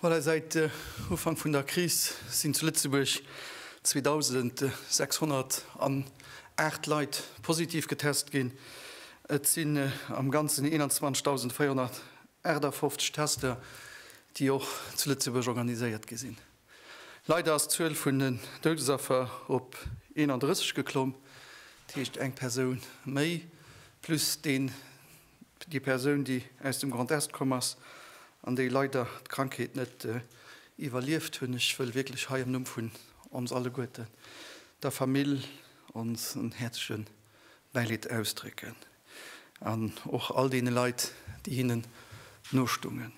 Voilà, seit äh, Ufank vun der Kris sinn zu Lëtzebuerg 2608 Leit positiv getest ginn. Et sinn äh, am ganzen 21.458 Tester, déi och zu Lëtzebuerg organiséiert gi sinn. Leider ass d'Zuel vun den Doudesaffer op 31 geklomm, dat heescht eng Persoun méi, plus deen, déi Persoun, déi aus dem Grand Est komm ass an déi leider d'Krankheet net iwwerlieft hunn. Ech wëll wierklech hei am Numm vun ons alleguerten der Famill onsen häerzleche Bäileed ausdrécken an och all deene Leit, déi hinnen nostungen.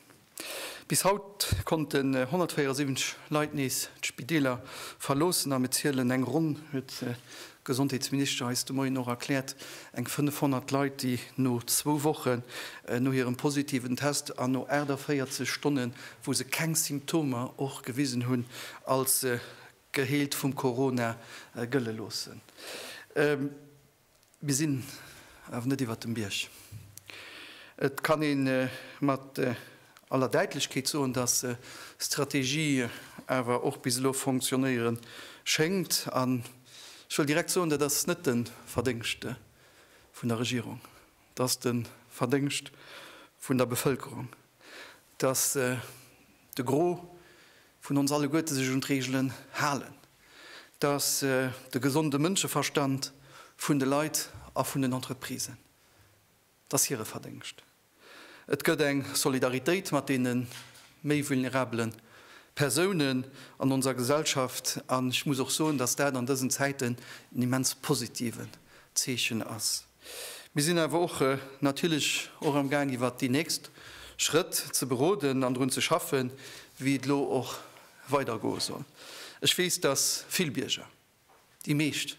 Bis haut konnten 174 Leit nees d'Spideeler verloossen a mir zielen eng ronn, huet d'Gesondheetsminister eis de Moien och erkläert, eng 500 Leit, déi no zwou Wochen no hirem positiven Test an no 48 Stonne wou se keng Symptomer och gewisen hunn, als geheelt vum Corona gëlle loossen. Mir sinn awer net iwwert dem Bierg. Et kann ee mat aller Däitlechkeet soen, dass Strategie awer och bis elo fonctionnéiere schéngt. An ech wëll direkt soen, dat ass net de Verdéngscht vun der Regierung, dat ass de Verdéngscht vun der Bevëlkerung. dass de Gros vun ons alleguerte sech un d'Reegelen halen, dass de gesonde Mënscheverstand vun de Leit a vun den Entreprisen, et ass hire Verdéngscht. Et gëtt eng Solidaritéit mat deene méi vulnerabele Persounen an onser Gesellschaft, an ech muss och soen, dass dat an dësen Zäiten en immens positiven Zeechen ass. Mir sinn awer och natierlech och am Gaang iwwert déi nächst Schrëtt ze beroden an drun ze schaffen, wéi et elo och weider goe soll. Ech weess, dass vill Bierger, déi meescht,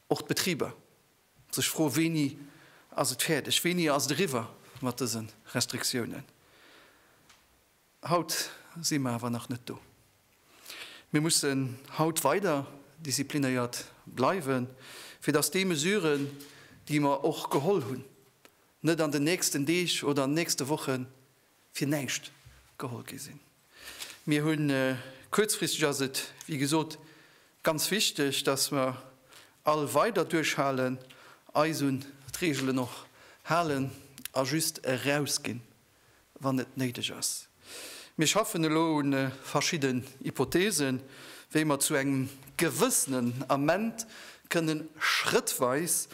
och d'Betriber, sech froe wéini ass et fäerdeg, wéini ass et eriwwer mat dëse Restriktiounen. Haut si mer awer nach net do. Mir mussen haut weider disziplinéiert bleiwen, fir dass déi Mesuren, déi mer och geholl hunn, net an den nächsten Deeg oder an den nächste Woche fir näischt geholl gi sinn. Mir hunn, kuerzfristeg ass et, wéi gesot, ganz wichteg, dass mer all weider duerchhalen, eis un d'Reegelen och halen a just erausginn, wann et néideg ass. Mir schaffen elo u verschidden Hypothesen, wéi mer zu engem gewëssenen Ament kënnen schrëttweis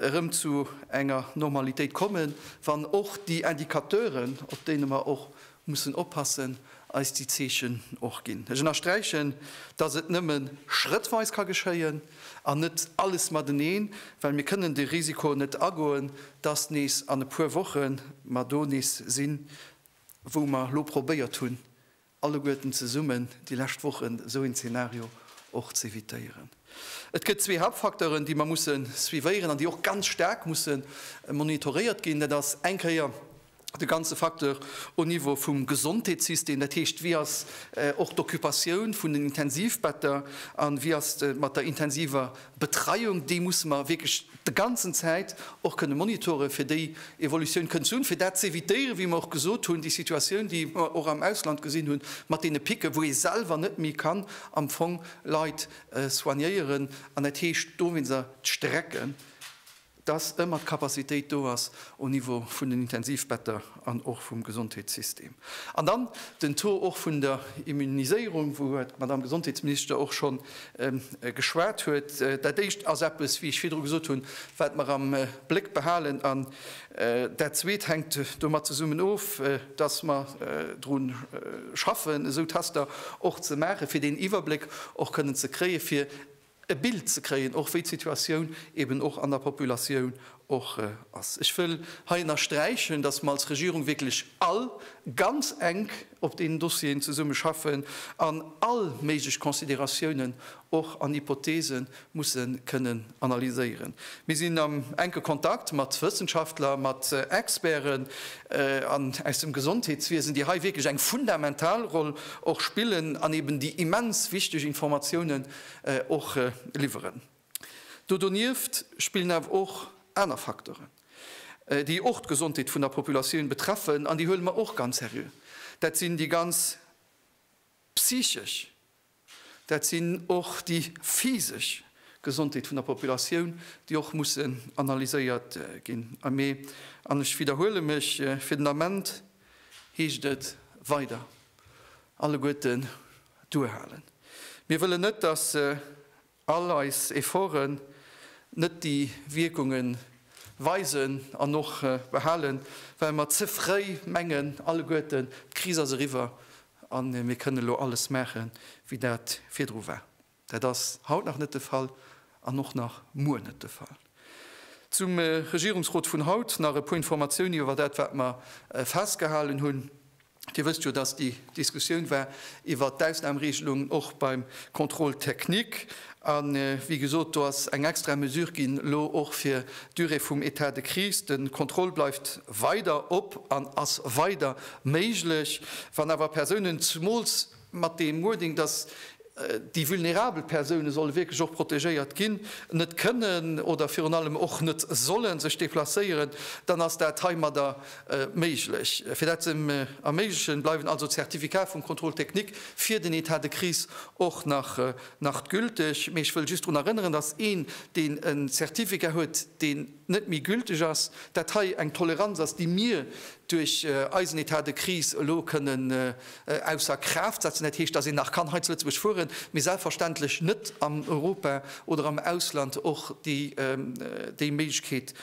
erëm zu enger Normalitéit kommen, wann och déi Indicateuren, op deene mer och mussen oppassen, eis déi Zeechen och ginn. Ech ënnersträichen, dass et nëmme schrëttweis ka geschéien. an net alles mateneen, well mir kënnen de Risiko net agoen, dass nees an e puer Woche mer do nees sinn, wou mer elo probéiert hunn, alleguerten zesummen déi lescht Wochen esou een Zeenario och ze evitéieren. Et gëtt zwee Hauptfacteuren, déi mer musse suivéieren an déi och ganz staark musse monitoréiert ginn. Dat ass eng Kéier de ganze Facteur au niveau vum Gesondheetssystem, dat heescht, wéi ass och d'Occupatioun vun den Intensivbetter a wéi ass et mat der intensiver Betreiung, déi musse mer wierklech de ganzen Zäit och kënne monitoren, fir déi Evolutioun kënnen ze hunn, fir dat z'évitéieren, wéi mer och gesot hunn, déi Situatioun, déi mer och am Ausland gesinn hunn, mat deene Picken, wou ee selwer net méi kann am Fong Leit soignéieren an dat heescht dowéinst der d'Strecken. dass ëmmer d'Capacitéit do ass au Niveau vun den Intensivbetter an och vum Gesondheetssystem. An dann den Taux och vun der Immuniséierung, wouiwwer d'Madame Gesondheetsminister och scho geschwat huet. Dat Éischt ass eppes, wéi ech virdru gesot hunn, wat mer am Bléck behalen. An dat Zweet hänkt domat zesummen of, dass mer dru schaffen, esou Tester och ze maachen, fir deen Iwwerbléck och kënnen ze kréien, fir e Bild ze kréien, och wéi d'Situatioun eben och an der Populatioun och ass. Ech wëll hei ënnersträichen, dass mer als Regierung wierklech all ganz enk op deenen Dossieren zesumme schaffen an all méiglech Considératiounen och an Hypothese musse kënnen analyséieren. Mir sinn am enke Kontakt mat Wëssenschaftler, mat Experten aus dem Gesondheetswiesen, déi hei wierklech eng fundamental Roll och spillen an eben déi immens wichteg Informatiounen, och liwweren. Do donieft spillen awer och aner Facteuren, déi och d'Gesondheet vun der Populatioun betreffen, an déi huele mer och ganz seriö, dat sinn déi ganz psychesch, dat sinn och déi physesch Gesondheet vun der Populatioun, déi och mussen analyséiert ginn. A mee, an ech widderhuele mech, fir den Ament heescht et weider alleguerten duerhalen. Mir wëllen net, dass all eis Efforten net déi Wierkunge weisen an och behalen, well mer ze fréi mengen alleguerten, d'Kris ass eriwwer a mir kënnen elo alles maache wéi dat virdru war. Dat ass haut nach net de Fall an och nach muer net de Fall. Zum Regierungsrot vun haut nach e puer Informatiounen iwwer dat wat mer festgehalen hunn. Dir wësst jo, dass déi Diskussioun war iwwert d'Ausnahmeregelung och beim Contrôle technique. A wéi gesot, do ass eng extra Mesure ginn elo och fir d'Durée vum État de crise. De Contrôle bleift weider op an ass weider méiglech. Wann awer Persounen, zumools, mat deem Wording, dass déi vulnerabel Persoune solle wierklech och protegéiert ginn, net kënnen oder virun allem och net solle sech deplacéieren, dann ass dat heimadder méiglech. Fir dat ze erméiglechen, bleiwen also d'Certificate vum Contrôle technique fir den État de crise och nach gülteg. Mee ech wëll just drun erënneren, dass een, deen e Certificat huet, deen. net méi gülteg ass, dat hei eng Toleranz ass, déi mir duerch eisen Etat de crise elo kënnen ausser Kraaft setzen. Dat heescht, datt een nach kann hei zu Lëtzebuerg fueren, mee selbstverständlech net an Europa oder am Ausland och déi Méiglechkeet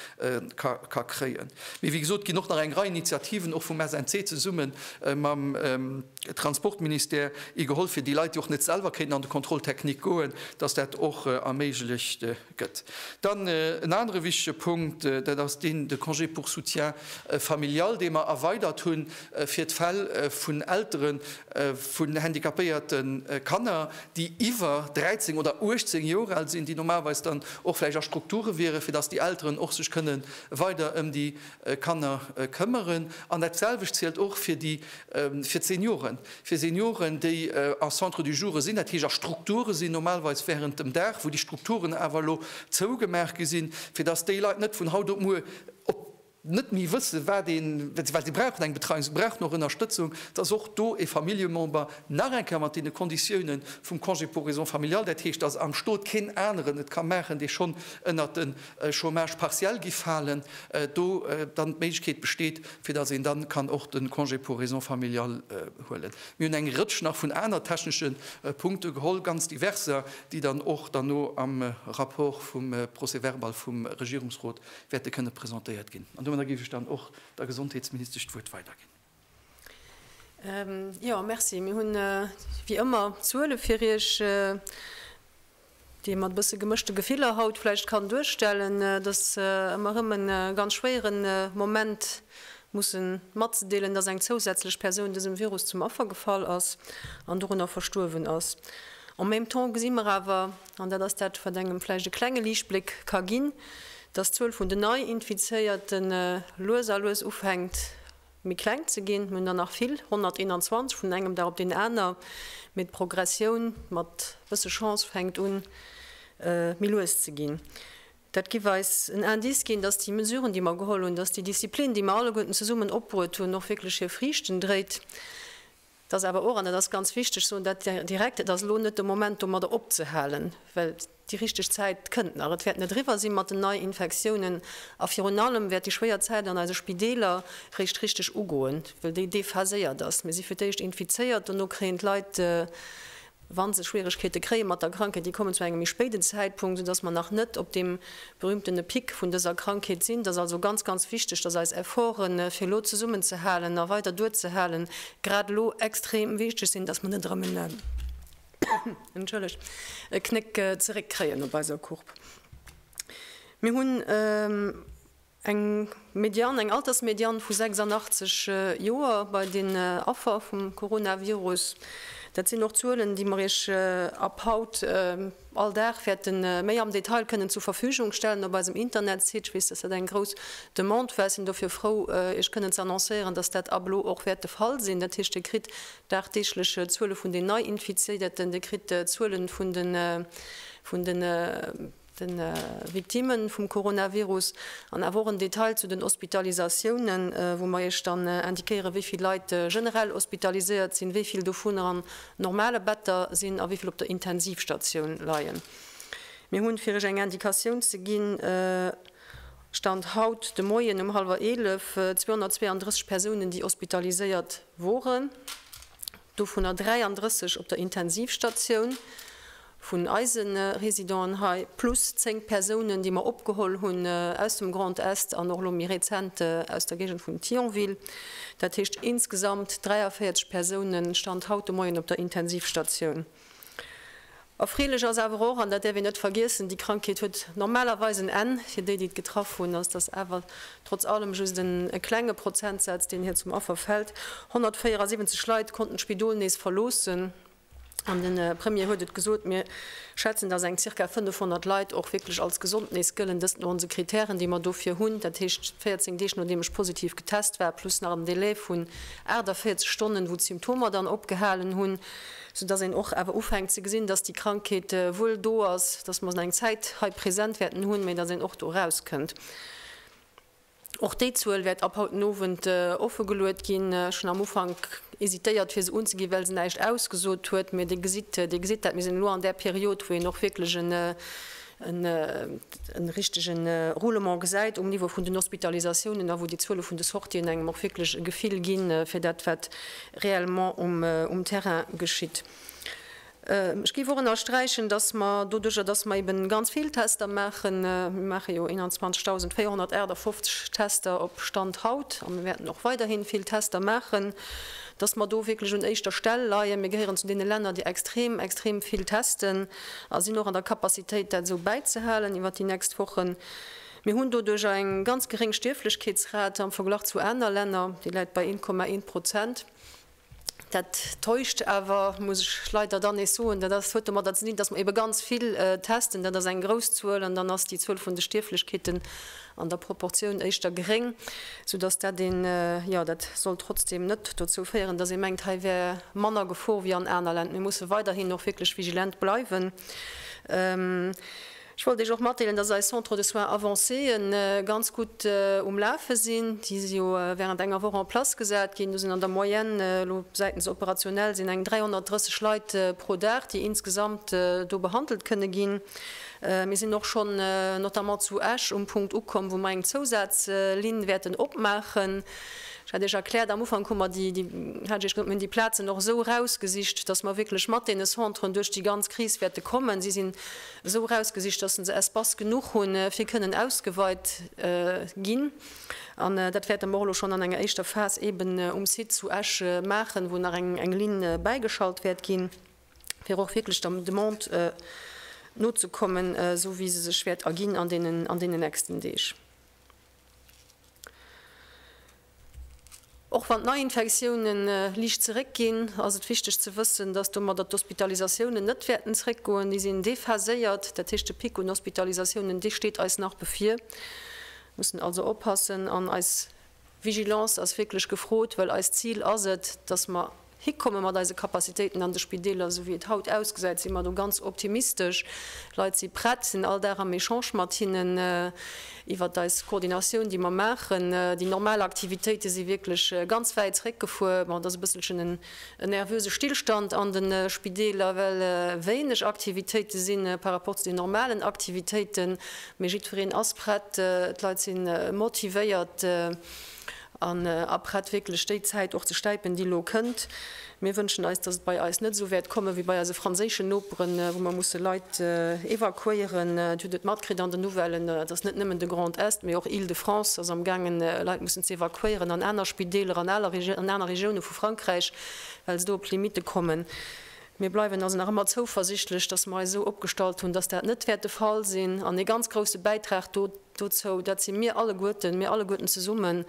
ka kréien. Mee wéi gesot, et ginn och nach eng Rei Initiativen, och vum SNC zesumme mam Transportministère, igeholl, fir déi Leit, déi och net selwer kéinten an de Contrôle technique goen, datt dat och erméiglecht Gëtt. Dann en anere wichtige Punkt, dat ass deen, de Congé pour soutien familial, dee mer erweidert hu fir d'Fäll vun Eltere vun handicapéierte Kanner, déi iwwer 13 oder 18 Joer al sinn, déi normalerweis dann och vläicht a Strukture wieren, fir dass déi Elteren och sech kënne weider ëm déi Kanner këmmeren. An datselwecht zielt och fir d'Senioren. fir Senioren, déi a Centres du joure sinn, dat heescht a Strukture sinn, normalerweis während dem Dag, wou déi Strukturen awer elo zougemaach gi sinn, fir dass déi Leit net vun haut op muer op net méi wëssen, wat een, well si brauchen eng Betreiung, si brauchen och Ënnerstëtzung, dass och do ee Familljemember nach eng Kéier mat deene Konditiounen vum Congé pour raisons familiales, dat heescht, dass am Stot keen aneren et ka maachen, dee schonn ënnert de Chômage partiel gi falen, do dann d'Méiglechkeet besteet, fir datt een dann kann och de Congé pour raisons familiales huelen. Mir hunn eng Rëtsch nach vun aner technesche Punkte geholl, ganz diverser, déi dann och derno am Rapport vum Procès-verbal vum Regierungsrot wäerte kënne presentéiert ginn. An domadder géif ech dann och der Gesondheetsministesch d'Wuert weiderginn. Jo, merci. Mir hunn wéi ëmmer Zuele fir Iech, déi ee mat e bësse gemëschte Gefiller haut vläicht kann duerstellen. Et ass ëmmer erëm e ganz schwéiere Moment, musse matzedeelen, dass eng zousätzlech Persoun dësem Virus zum Affer gefall ass an dorunner verstuerwen ass. En même temps gesi mer awer, an dat ass dat, wat engem vläicht e klenge Liichtbléck ka ginn, dass d'Zuel vun den Nei-Infizéierte lues a lues ufänkt méi kleng ze ginn. Mir hunn der nach vill, 121 vun engem Dag op deen aner, mee d'Progressioun mat bësse Chance fänkt un méi lues ze ginn. Dat giff eis en Indice ginn, dass déi Mesuren, déi mer geholl hunn, dass déi Disziplin, déi mer alleguerten zesummen opbruet hunn, och wierklech hir Friichten dréit. Et ass awer och, an dat ass ganz wichteg, soen dat direkt, Et ass elo net de Moment domadder opzehalen, well déi richteg Zäit kënnt nach. Et wäert net eriwwer si mat den Neiinfektiounen a virun allem wäert déi schwéier Zäit an eise Spideeler réischt richteg ugoen, well déi déphaséiert ass. Mir si fir d'éischt infizéiert, dono kréien d'Leit Wa se Schwieregkeete kréie mat der Krankheet, déi kommen zu engem méi spéiden Zäitpunkt, soudass mer nach net op deem berühmtene Pic vun dëser Krankheet sinn. Et ass also ganz, ganz wichteg, dass eis Efforten, fir elo zesummenzehalen a weider duerzehalen, grad elo extrem wichteg sinn, dass mer net erëm en, entschëllegt, e Knéck zeréckkréien op eiser Courbe. Mir hunn. Eng Median, eng Altersmedian vu 86 Joer bei den Affer vum Coronavirus. Dat sinn och Zuelen, déi mer Iech ab haut all Dag wäerte méi am Detail kënnen zur Verfügung stellen op eisem Internetsite. Ech weess, dass dat eng grouss Demande war. Ech sinn dofir frou, Iech kënnen ze annoncéieren, dass dat ab elo och wäert de Fall sinn. Dat heescht, Dir kritt dagdeeglech Zuele vun den Neiinfizierten, Dir kritt Zuele vun de. de Victime vum Coronavirus an awer och en Detail zu den Hospitalisatiounen, wou mer Iech dann indiquéieren, wéi vill Leit generell hospitaliséiert sinn, wéi vill dovunner an normale Better sinn a wéi vill op der Intensivstatioun leien. Mir hunn, fir Iech eng Indikatioun ze ginn, Stand haut de Moien um hallwer eelef 232 Persounen, déi hospitaliséiert woren. dovunner 33 op der Intensivstatioun vun eise Residenten hei, plus 10 Persounen, déi mer opgeholl hunn aus dem Grand Est an och elo méi rezent aus der Géigend vun Thionville. Dat heescht insgesamt 43 Persounen, Stand haut de Moien, op der Intensivstatioun. Erfreelech ass awer och, an dat däerf een net vergiessen, déi Krankheet huet normalerweis en Enn. Fir déi, déi et getraff hunn, ass dass awer trotz allem just e klenge Prozentsaz, deen hir zum Affer fält. 174 Leit konnten d'Spidol nees verloossen. An de Premier huet et gesot, Mir schätzen, dass eng zirka 500 Leit och wierklech als gesond nees gëllen. Dëst no onse Krittären, déi mer dofir hunn, dat heescht 14 Deeg nodeem ech positiv getest war, plus nach en Delai vun 48 Stonnen, wou d'Symptomer dann opgehalen hunn. sou dass een och awer ufänkt ze gesinn, dass déi Krankheet wuel do ass, dass mer se eng Zäit hei present wäerten hunn, mä dass een och do erauskënnt. Och déi Zuel wäert ab haut den Owend offegeluet ginn. Ech hunn am Ufank hésitéiert, fir se unzeginn, well se näischt ausgesot huet, mä Dir gesitt, Dir gesitt dat. Mir sinn elo an där Period, wou een och wierklech en en richtege Roulement gesäit um Niveau vun den Hospitalisatiounen a wou déi Zuele vun de Sortien engem och wierklech e Gefill gi fir dat, wat reellement um Terrain geschitt. Ech géif och ënnersträichen, dass mer doduerjer, dass mer eeben ganz vill Tester maachen, mir maache jo 21.458 Tester op Stand haut a mir wäerten och weiderhi vill Tester maachen, dass mer do wierklech un éischter Stell leien. Mir gehéieren zu deene Länner, déi extrem, extrem vill testen. A sinn och an der Capacitéit, dat esou bäizehalen iwwer déi nächst Wochen. Mir hunn doduerch eng ganz geréng Stierflechkeetsrate am Verglach zu aner Länner, déi läit bei 1,1 Prozent. Dat täuscht awer, muss ech leider dann nees soen. Dat ass, huet domatter ze dinn, dass mer eebe ganz vill testen, dat ass eng grouss Zuel, an dann ass déi Zuel vun de Stierflechkeeten an der Proportioun éischter gréng, sou datt dat een, jo, dat soll trotzdem net dozou féieren, datt ee mengt, hei wär manner Gefor wéi an aner Län. Mir musse weiderhin och wierklech vigilent bleiwen. Ech wollt Iech och matdeelen, datt eis Centres de soins avancéë ganz gutt um Lafe sinn. Déi si jo während enger Woch en place gesat ginn. Do sinn an der Moyenne elo säitens operationell sinn eng 330 Leit pro Dag, déi insgesamt do behandelt kënne ginn. Mir sinn och schonn notamment zu Esch um Punkt ukomm, wou mer eng Zousazlinn wäerten opmaachen. Ech hat Iech erkläert, am Ufank hu mer déi, hat ech Iech gesot, mir hunn déi Plazen och esou erausgesicht, dass mer wierklech mat deene Centren duerch déi ganz Kris wäerte kommen. Si sinn esou erausgesicht, dass se Espace genuch hunn, fir kënnen ausgeweit ginn. An dat wäerte mer och elo schonn an enger éischter Phas eeben um Site zu Esch maachen, wou nach eng Linn bäigeschalt wäert ginn. fir och wierklech der Demande nozekommen, esou wéi se sech wäert erginn an deenen nächsten Deeg. Och wann d'Neiinfektioune liicht zeréckginn, ass et wichteg ze wëssen, dass domadder d'Hospitalisatiounen net wäerten zréckgoen. Déi sinn déphaséiert, dat heescht de Pic un Hospitalisatiounen, dee steet eis nach bevir. Mir mussen also oppassen an eis Vigilance ass wierklech gefrot, well eist Zil ass et, dass mer Hikomme mat eise Capacitéiten an de Spideeler. Esou wéi et haut ausgesäit, si mer do ganz optimistesch. Leit si prett, sinn all Dag am Echange mat hinnen iwwert eis Koordinatioun, déi mer maachen. Déi normal Aktivitéite si wierklech ganz wäit zeréckgefuer. Bon, et ass e bësselchen en nervöse Stillstand an de Spideeler, well wéineg Aktivitéite si par rapport zu den normalen Aktivitéiten. Mee jiddwereen ass prett, d'Leit si motivéiert. an aprett wierklech déi Zäit och ze stäipen, déi elo kënnt. Mir wënschen eis, datt et bei eis net esou wäert komme wéi bei eise franséischen Noperen, wou mer musse Leit evakuéieren. Et hutt et matkritt an den Nouvellen, et ass net nëmmen de Grand Est, mee och Île-de-France ass am gaangen, Leit mussen ze evakuéieren an aner Spideeler, an aner Regioune vu Frankräich, well se do op d'Limitte kommen. Mir bleiwen also nach ëmmer zouversichtlech, datt mer eis esou opgestallt hunn, datt dat net wäert de Fall sinn an ee ganz grousse Bäitrag do. Dozou, dat si mir alleguerten, mir alleguerten zesummen,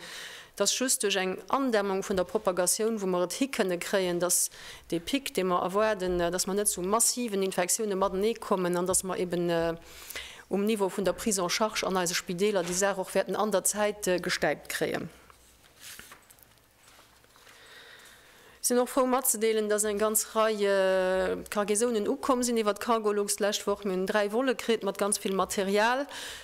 dass just duerch eng Andämmung vun der Propagatioun, wou mer et hi kënne kréien, dass dee Pic, dee mer erwaarden, dass mer net zu massiven Infektioune matenee kommen an dass mer eben um Niveau vun der Prise en charge an eise Spideeler déi Saach och wäerten an der Zäit gestäipt kréien. Sinn och frou matzedeelen, dass eng ganz Rei Cargaisounen ukomm sinn iwwert Cargolux d'lescht Woch. Mir hunn 3 Volle kritt mat ganz vill Material,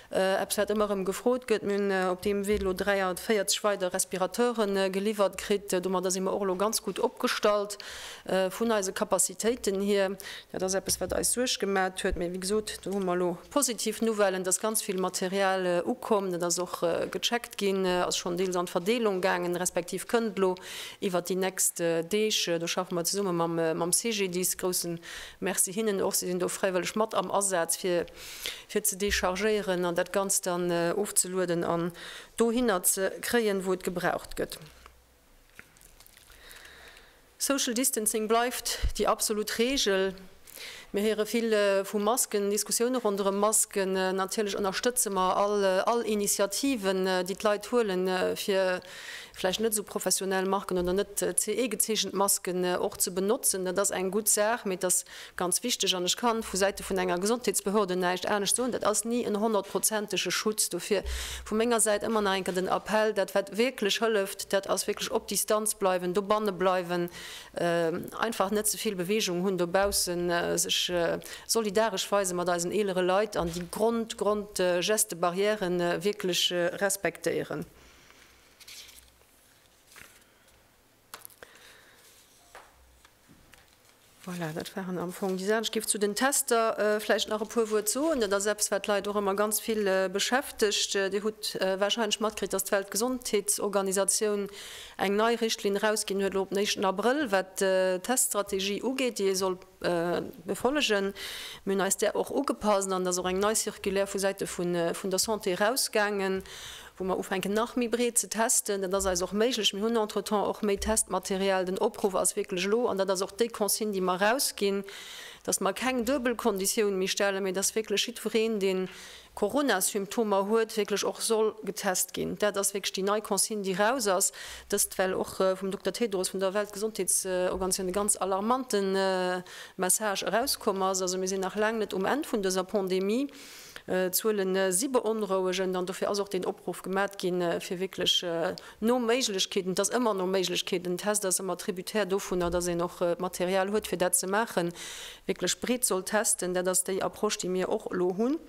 eppes wat ëmmer erëm gefrot gëtt. Mir hunn op deem Wee elo 43 weider Respirateuren geliwwert kritt. Domadder si mer och elo ganz gutt opgestallt. Vun eise Capacitéiten hier, dat ass eppes, wat eis Suerg gemaacht huet, mee wéi gesot, do hu mer elo positiv Nouvellen, dass ganz vill Material ukomm, dat ass och gecheckt ginn, ass schonn deels an d'Verdeelung gaangen, respektiv kënnt elo iwwert déi nächst Deeg. Do schaffe mer zesumme mam CGDIS, grousse Merci hinnen och, si sinn do fräiwëlleg mat am Asaz, fir fir ze dechargéieren an dat Ganzt dann ofzelueden an dohinner ze kréien, wou et gebraucht gëtt. Social distancing bleift déi absolut Reegel. Mir héiere vill vu Masken, Diskussioune ronderëm Masken. Natierlech ënnerstëtze mer all Initiativen, déi d'Leit huelen, fir vläicht net esou professionell Marken oder net CE-gezeechent Masken och ze benotzen. Dat ass eng gutt Saach, mee et ass Ganz wichteg, an ech ka vu Säite vun enger Gesondheetsbehörde näischt anescht soen, dat ass ni en honnertprozentege Schutz. Dofir vu menger Säit ëmmer nach eng Kéier den Appell, dat wat wierklech hëlleft, dat ass wierklech op Distanz bleiwen, dobanne bleiwen, einfach net ze vill Beweegung hunn dobaussen, sech solidaresch weise mat eisen eelere Leit an déi Grond, Grond Geste barrièrë wierklech respektéieren. Voilà, dat waren am Fong déi Saachen. Ech géif zu den Tester vläicht nach e puer Wuert soen. Dat ass eppes, wat d'Leit och ëmmer ganz vill beschäftegt. Dir hutt warscheinlech matkritt, datt d'Weltgesondheetsorganisatioun eng nei Richtlinn erausginn huet, elo op den éischten Abrëll, wat d'Teststrategie ugeet, déi ee soll befollegen. Mir hunn eis där och ugepasst an et ass och eng nei Circulaire vu Säite vun der Santé erausgaangen, wou mer ufänken nach méi breet ze testen, dat ass eis och méiglech, mir hunn entretemps och méi Testmaterial, den Opruff ass wierklech elo, an dat ass och déi Consigne déi mer erausginn, datt mer keng duebel Konditioun méi stellen, mee datt wierklech jiddwereen deen Coronasymptomer huet, wierklech och soll getest ginn. Dat ass wierklech déi nei Consigne déi raus ass dëst, well och vum Dokter Tedros vun der Weltgesondheetsorganisatioun e ganz alarmante Message erauskomm ass. Also mir sinn nach laang net um Enn vun dëser Pandemie. D'Zuele si beonrouegend an dofir ass och deen Opruff gemat gi fir wierklech no Méiglechkeeten, et ass ëmmer no Méiglechkeeten, den Test ass ëmmer tributaire dovunner, datt een och d'Material huet fir dat ze maachen, wierklech breet soll testen. Dat ass déi Approche déi mir och elo hunn,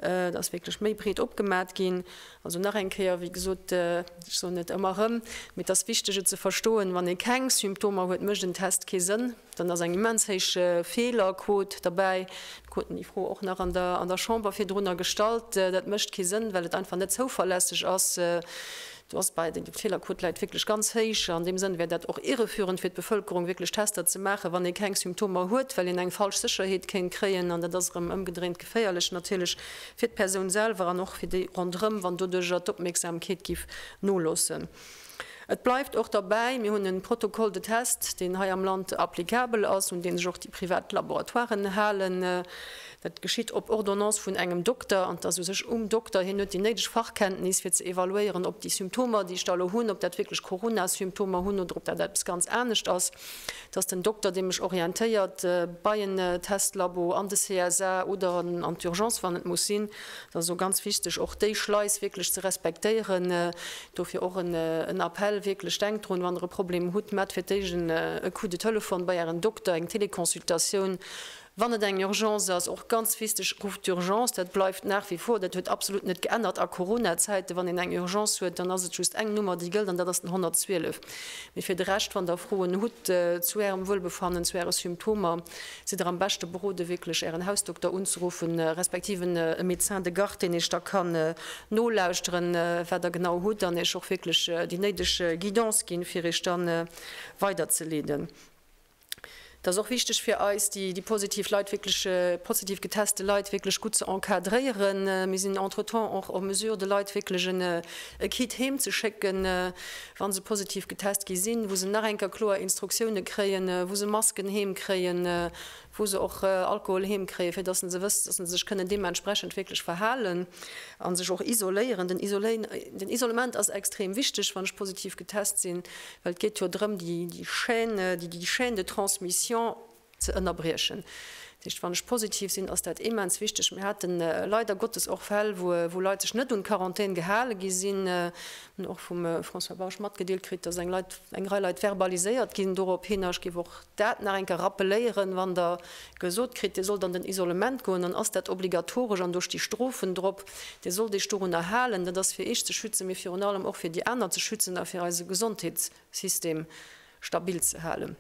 et ass wierklech méi breet opgemat ginn. Also nach eng Kéier, wéi gesot, ech soen et ëmmer erëm, mee et ass wichteg et ze verstoen, wann ee keng Symptomer huet mécht en Test kee Sënn. Dann ass eng immens héich Feelerquot derbäi. Mir kruten déi Fro och nach an der Chamber virdrunner gestallt. Dat mécht kee Sënn, well et einfach net zouverlässeg ass. Do ass bei den Feelerquot läit wierklech ganz héich. An deem Sënn wär dat och irreführend fir d'Bevëlkerung, wierklech Tester ze maachen, wann ee keng Symptomer huet, well een eng falsch Sécherheet kéint kréien. An dat ass erëm ëmgedréint geféierlech natierlech fir d'Persoun selwer an och fir déi ronderëm, wann doduerjer d'Opmierksamkeet géif noloossen. Et bleift och derbäi, mir hunn e Protocole de test, deen hei am Land applicabel ass, un dee sech och déi privat Laboratoiren halen. Dat geschitt op Ordonnance vun engem Dokter an et ass u sech um Dokter. Hien huet déi néideg Fachkenntnis, fir ze evaluéieren, ob déi Symptomer, déi ech da elo hunn, ob dat wierklech Corona-Symptomer hunn oder ob dat eppes ganz anescht ass. Et ass den Dokter, dee mech orientéiert bei en Testlabo an de CSA oder an d'Urgence, wann et muss sinn. Et ass also ganz wichteg, och déi Schleis wierklech ze respektéieren. Dofir och en Appell, wierklech denkt drun, wann der e Problem hutt, maacht fir d'éischt e Coup de Telefon bei ären Dokter, eng Teleconsultatioun. Wann et eng Urgence ass, och ganz wichteg, rufft d'Urgence, dat bleift nach wie vor, dat huet absolut net geännert a Coronazäiten, wann een eng Urgence huet, dann ass et just eng Nummer déi gëllt an dat ass den 112. Mee fir de Rescht, wann der Froen hutt zu ärem Wuelbefannen, zu äre Symptomer, Sidd der am beschte berode wierklech Ären Hausdokter unzeruffen, respektiv en Médecin de garde, deen Iech da kann nolauschteren, wat Der genau hutt an Iech och wierklech déi néideg Guidance ginn, fir Iech dann weiderzeleeden. Dat ass och wichteg fir eis, déi positiv Leit wierklech, positiv geteste Leit wierklech gutt ze encadréieren. Mir sinn entretemps och en mesure de Leit wierklech e Kit heem ze schécken, wa se positiv getest gi sinn, wou se nach eng Kéier kloer Instruktioune kréien, wou se Masken heem kréien, wou se och Alkohol heem kréien, fir datt se wëssen, datt se sech kënnen deementsprechend wierklech verhalen a sech och isoléieren. Den Isolement ass extrem wichteg, wann ech positiv getest sinn, well et geet jo drëm, déi Chaîne, déi Chaîne de transmission, ze ënnerbriechen. Dat heescht, wann ech positiv sinn, ass dat immens wichteg. Mir hate leider Gottes och Fäll, wou Leit sech net un d'Quarantän gehale gi sinn. Mir hunn och vum François Bausch matgedeelt kritt, dass eng Rei Leit verbaliséiert ginn dorophin. Ech géif och dat nach eng Kéier rappeléieren, Wann Der gesot kritt, Dir sollt an den Isolement goen, dann ass dat obligatoresch an do sti Strofen drop. Dir sollt Iech dorunner halen. Dat ass fir Iech ze schützen, mee virun allem och fir déi aner ze schützen a fir eise Gesondheetssystem stabil ze halen.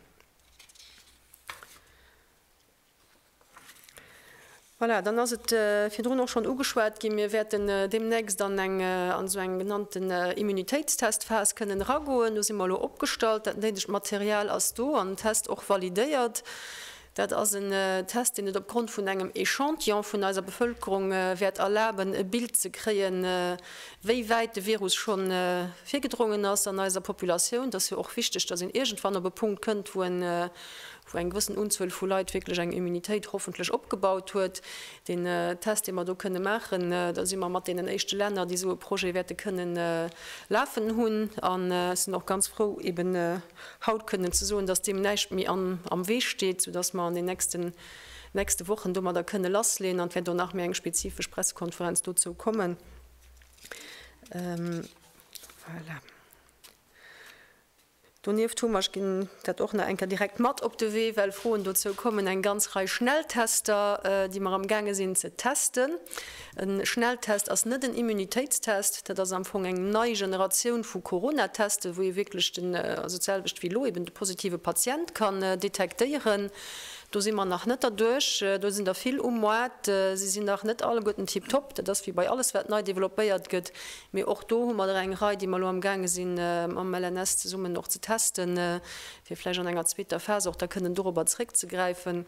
Voilà, dann ass et virdrun och schonn ugeschwat ginn, Mir wäerten deemnächst an eng an esou eng genannten Immunitéitstestphas kënnen eragoen. Do si mer elo opgestallt, dat néidegt Material ass do an den Test och validéiert. Dat ass en Test, deen et opgrond vun engem Echantillon vun eiser Bevëlkerung wäert erlaben, e Bild ze kréien, wéi wäit de Virus scho virgedrongen ass an eiser Populatioun. Et ass jo och wichteg, datt een iergendwann op e Punkt kënnt, wou eng gewëssen Unzuel vu Leit wierklech eng Immunitéit hoffentlech opgebaut huet. Deen Test, dee mer do kënne maachen, da si mer mat deenen éischte Länner, déi esou e Projet wäerte kënnen lafen hunn. An ech sinn och ganz frou, eben haut kënnen ze soen, datt deem näischt méi am Wee steet, soudatt mer an den nächste Wochen domadder kënne lassleeën. An et wäert och nach méi eng spezifesch Pressekonferenz dozou kommen. Voilà. Donieft hu mer, ech ginn dat och nach eng Kéier direkt mat op de Wee, well Froen dozou kommen, eng ganz Rei Schnelltester, déi mer amgaange sinn ze testen. E Schnelltest ass net en Immunitéitstest. Dat ass am Fong eng nei Generatioun vu Corona-Teste, wou ee wierklech den, also d'selwecht wéi elo, eben de positive Patient kann detektéieren. Do si mer nach net derduerch. Do sinn der vill um Moart. Si sinn nach net alleguerten tiptop. Dat ass wéi bei alles, wat nei developpéiert gëtt. Mee och do hu mer der eng Rei, déi mer elo amgaange si mam LNS zesummen och ze testen, fir vläicht an enger zweeter Phas och da kënnen dorobber zréckzegräifen.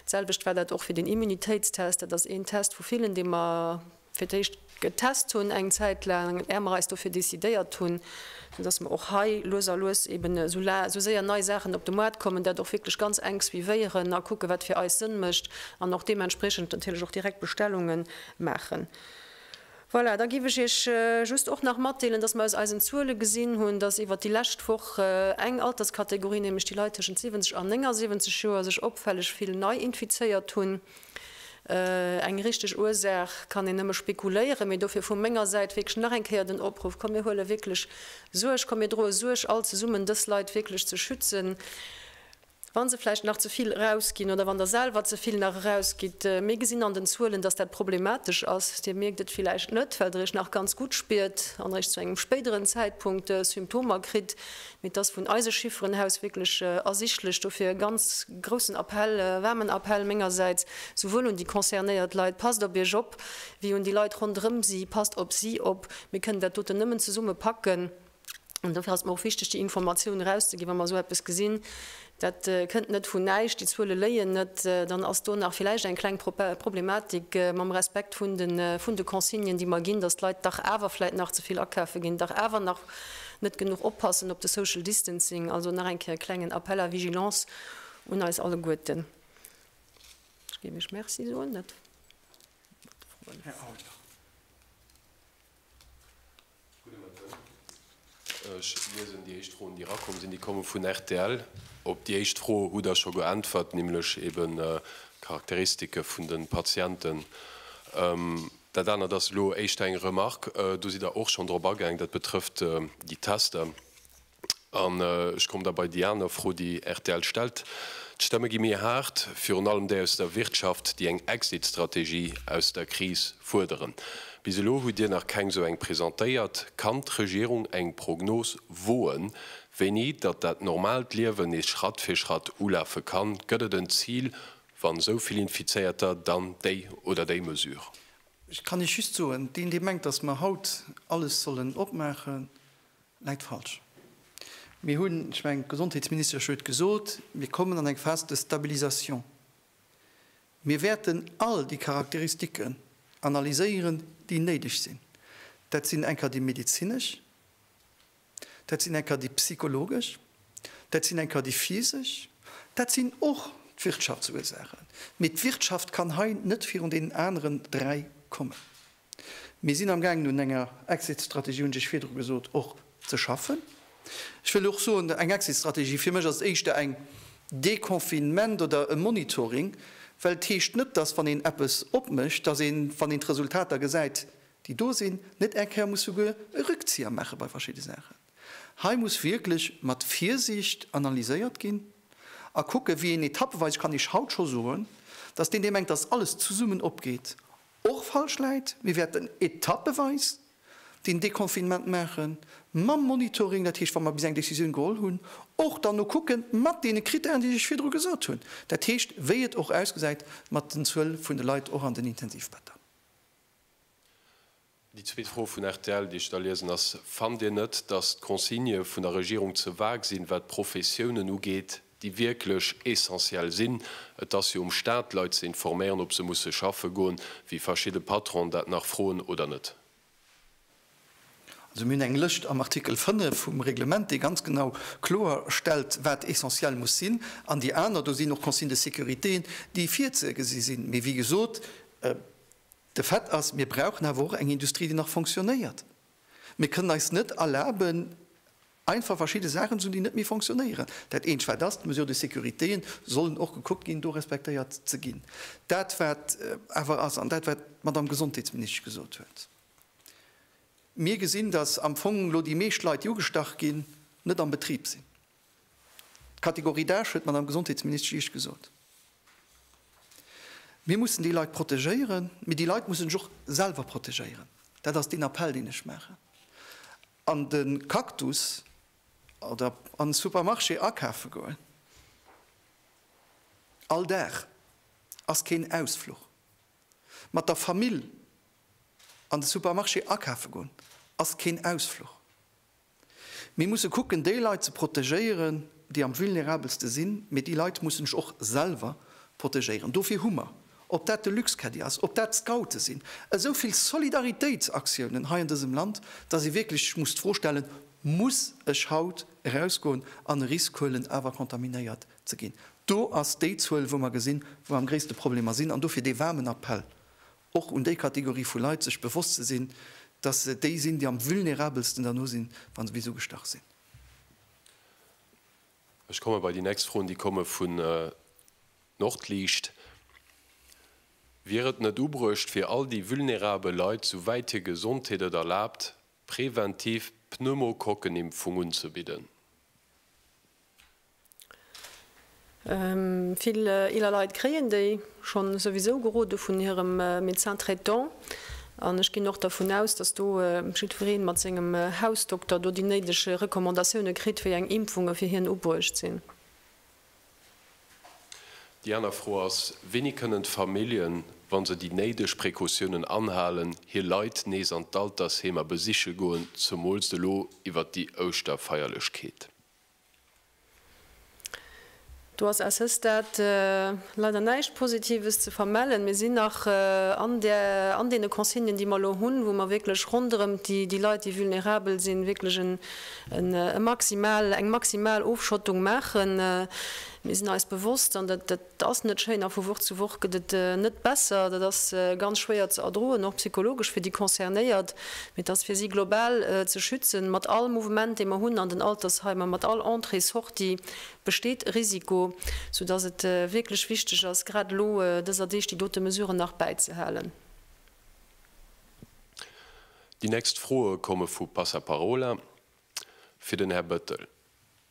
D'selwecht war dat och fir den Immunitéitstest. Dat ass een Test vu villen, dee mer fir d'éischt getest hunn eng Zäit laang, är mer eis dofir decidéiert hunn, dass mer och hei lues a lues eben esou la, esou séier nei Saachen op de Moart kommen, dat och wierklech ganz enk suivéieren a kucke wat fir eis Sënn mécht an och deementspreechend natierlech och direkt Bestellunge maachen. Voilà, da géif ech Iech just och nach matdeelen, dass mer aus eisen Zuele gesinn hunn, dass iwwert déi lescht Woch eng Alterskategorie, nämlech déi Leit tëschent 70 an 79 Joer, sech opfälleg vill nei infizéiert hunn. Eng richteg Ursaach kann een nëmme spekuléieren, mee dofir vu menger Säit wierklech nach eng Kéier den Opruff, Komm mir huele wierklech Suerg, komm mir droe Suerg all zesummen, dës Leit wierklech ze schützen, wa se vläicht nach ze vill erausginn oder wann Der selwer ze vill nach erausgitt. Mir gesinn an den Zuelen, dass dat problematesch ass. Dir mierkt et villäicht net, well Der Iech nach ganz gutt spiert an Iech zu engem spéideren Zäitpunkt Symptomer kritt, Mee et ass vun eise Chifferen aus wierklech ersichtlech. Dofir e ganz groussen Appell, e waarmen Appell mengersäits, souwuel un déi concernéiert Leit, Passt op Iech op! wéi un déi Leit ronderëm si, Passt op si op! Mir kënnen dat doten nëmmen zesumme packen. An dofir ass et mer och wichteg, déi Informatioun erauszegi wa mer esou eppes gesinn. Dat kënnt net vun näischt, déi Zuele léien net. Dann ass do nach villäicht eng kleng Problematik mam Respekt vun de Consignen, déi mer ginn, datt d'Leit dach awer vläit nach ze vill akafe ginn, dach awer nach net genuch oppassen op de Social Distancing. Also nach eng Kéier e klengen Appel à vigilance un eis alleguerten. Ech géif iech Merci soen. Ech liesen déi éischt Froen, déi erakomm sinn. Déi komme vun rtl. Op déi éischt Fro hutt Der scho geäntwert, nämlech eben d'Charakteristike vun de Patienten. Dat anert ass elo éischter eng Remarque. Do sidd Der och schonn drop agaang, dat betrëfft déi Tester. An ech kommen da bei déi aner Fro, déi rtl stellt. D'Stemme gi méi haart, virun allem déi aus der Wirtschaft, déi eng Exit-Strategie aus der Kris fuerderen. Bis elo hutt Dir nach keng esou eng presentéiert. Kann d'Regierung eng Prognos woen, wéini datt dat normaalt Liewen nees Schratt fir Schratt ulafe kann? Gëtt et en Zil, wann esou vill Infizéierter, dann déi oder déi Mesure? Ech kann Iech just soen, deen, dee mengt, datt mer haut alles sollen opmaachen, Läit falsch. Mir hunn, ech mengen, d'Gesondheetsministesch huet gesot, mir kommen an eng Phase de stabilisation. Mir wäerten all déi Charakteristiken analyséieren, déi néideg sinn. Dat sinn enker déi medezinesch, dat sinn enker déi psychologesch, dat sinn enker déi physesch, dat sinn och d'Wirtschaftsursaachen. Mee d'Wirtschaft kann hei net virun deenen aneren dräi kommen. Mir sinn amgaangen un enger Exit-Strategie, hunn ech virdru gesot, och ze schaffen. Ech wëll och soen, eng Exit-Strategie, fir mech ass et éischter eng Deconfinement oder e Monitoring, well et heescht net, dass wann een eppes opmécht, dass een, wann een d'Resultater gesäit, déi do sinn, net eng Kéier muss souguer e Rückzieher maache bei verschidde Saachen. Hei muss wierklech mat Virsiicht analyséiert ginn a kucke wéi een etappeweis, kann ech haut scho soen, dass deen dee mengt, dass alles zesummen opgeet, Och falsch läit, mir wäerten etappeweis den Deconfinement maachen, mam Monitoring, dat heescht wa mer bis eng Décisioun geholl hunn, och dann nokucke mat deene Critèren, déi ech virdru gesot hunn, dat heescht wéi et och ausgesäit mat den Zuel vun de Leit och an den Intensivbetter. Déi zweet Fro vun rtl, déi ech da liesen, ass, Fannt Dir net, datt d'Consignë vun der Regierung ze vag sinn, wat d'Professiounen ugeet, déi wierklech essentiell sinn? Et ass jo um Staat, d'Leit ze informéieren, ob se musse schaffe goen, wéi verschidde Patronen dat nach froen oder net. Also mir hunn eng Lëscht am Artikel 5 vum Reglement, dee ganz genau kloerstellt, wat essentiell muss sinn. An déi aner, do sinn och Consignes de sécurité, déi virzegesi sinn. Mee wéi gesot, De Fait ass, mir brauchen awer och eng Industrie, déi nach fonctionnéiert. Mir kënnen eis net erlaben, einfach verschidde Saachen ze hunn, déi net méi fonctionnéieren. Dat Eent, wat ass, d'Mesures de sécurité sollen och gekuckt ginn, do respektéiert ze ginn. Dat, wat awer ass, an dat, wat d'Madame Gesondheetsministesch gesot huet, Mir gesinn, dass am Fong elo déi meescht Leit, déi ugestach ginn, net am Betrib sinn. D'Kategorie d'âge huet d'Madame Gesondheetsministesch riicht gesot. Mir mussen déi Leit protegéieren, mee déi Leit mussen sech och selwer protegéieren. Dat ass deen Appell, deen ech maachen. An de Cactus oder an de Supermarché akafe goen all Dag ass keen Ausfluch. Mat der Famill an de Supermarché akafe goen ass keen Ausfluch. Mir musse kucken, déi Leit ze protegéieren, déi am vulnerabelste sinn, mee déi Leit mussen sech och selwer protegéieren. Dofir hu mer, ob dat de Luxcaddie ass, ob dat d'Scoute sinn, esou vill Solidaritéitsaktiounen hei an dësem Land, dass ee wierklech sech muss d'Fro stellen, Muss ech haut erausgoen an e Risk huelen, awer contaminéiert ze ginn? Do ass déi Zuel, wou mer gesinn, wou am gréisste Problemer sinn. An dofir dee waarmen Appell och un déi Kategorie vu Leit, sech bewosst ze sinn, dass se déi sinn, déi am vulnerabelsten derno sinn, wa se bis ugestach sinn. Ech komme bei déi nächst Froen, déi komme vun Nordliicht. Wier et net ubruecht, fir all déi vulnerabel Leit, souwäit hir Gesondheet et erlaabt, präventiv d'Pneumokokken-Impfung unzebidden? Vill eeler Leit kréien déi schonn souwisou gerode vun hirem Médecin traitant. An ech ginn och dervun aus, dass do jiddweree mat sengem Hausdokter do déi néideg Recommandatioune kritt, wéi eng Impfunge fir hien ubruecht sinn. Déi aner Fro ass, Wéini kënnen d'Familljen, wa se déi néideg Precautiounen anhalen, hir Leit nees an d'Altersheemer besiche goen, zemools elo iwwert déi Ouschterfeierlechkeet? Do ass à ce stade leider näischt Positives ze vermellen. Mir sinn nach an där, an deene Consignen, déi mer elo hunn, wou mer wierklech ronderëm déi Leit, déi vulnerabel sinn, wierklech en, e maximal, eng maximal Ofschottung maachen. Mir sinn eis bewosst, an dat, dat. Dat ass net schéin a vu Woch zu Woch gëtt et net besser. Dat ass ganz schwéier ze erdroen, och psychologesch fir déi Concernéiert. Mee et ass fir si global ze schützen. Mat all Mouvement, dee mer hunn an den Altersheimer, mat all Entrée, Sortie besteet e Risiko, soudass et wierklech wichteg ass, grad elo dëser Deeg déi dote Mesuren nach bäizehalen. Déi nächst Froe komme vu Passaparola fir den Här Bettel.